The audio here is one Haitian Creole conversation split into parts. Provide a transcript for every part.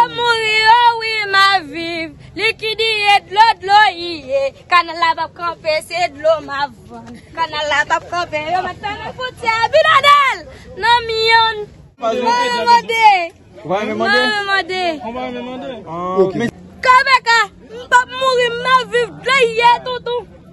Yo mouri yo wi map viv. Likidiye dlo dlo iye. Kanal la pap kanpe se dlo map vann. Kanal la pap kanpe yo met fèmen fwontyè Abinadèl nan miyon. Mare mande. Mare mande. Kpk mpap mouri map viv dlo iye tonton.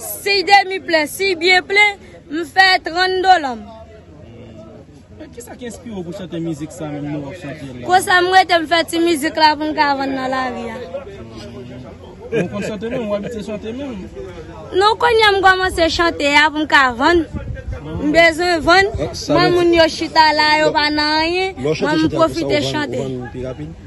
Si demi plen, si byen plen, m fè 30 dola m. Kisa ki enspire w pou chante mizik sa menm lè w ap chante l la? Konsa m rete m fè ti mizik la pou m ka vann nan lari a. Men w konn chante menm, w abitye chante menm? Non kounye m kòmanse chante a pou m ka vann. M bezwen vann, m wè moun yo chita la yo pa nan anyen, m wè m pwofite chante.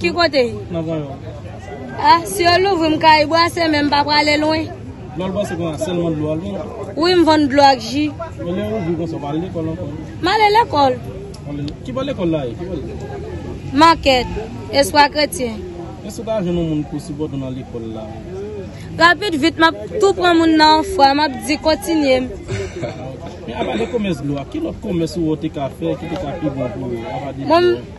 Ki kote? Nan van yo. A, si yo louvri m ka ibwase men m pa prale lwen. Dlo al pase konsa selman dlo al vann? Wi m vann dlo ak ji. Men lè yo ouvri konsa ou pa ale lekòl ankò? M ale lekòl. Ki bò lekòl la ye? Ki bò l ye? Market, Espwa kretyen. Èske ou ka jwenn yon moun pou sipòte w nan lekòl la? Rapid vit m ap tou pran moun nan yon fwa, m ap di kontinye m. Men apa de komès dlo a, ki lòt komès ou wè ou te ka fè ki te ka pi bon pou ou apa de dlo a?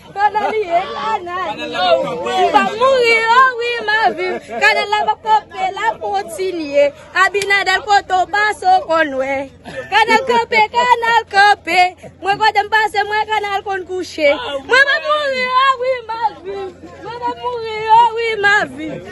Pandan li ye kanal yo M pa mouri o wi m ap viv Kanal la pa p kanpe l ap kontinye Abinadèl kote w pase w konn wè Kanal kanpe kanal kanpe Mwen kote m pase m wè kanal konn kouche Mwen pa p mouri o wi m ap viv Mwen pa p mouri o wi m ap viv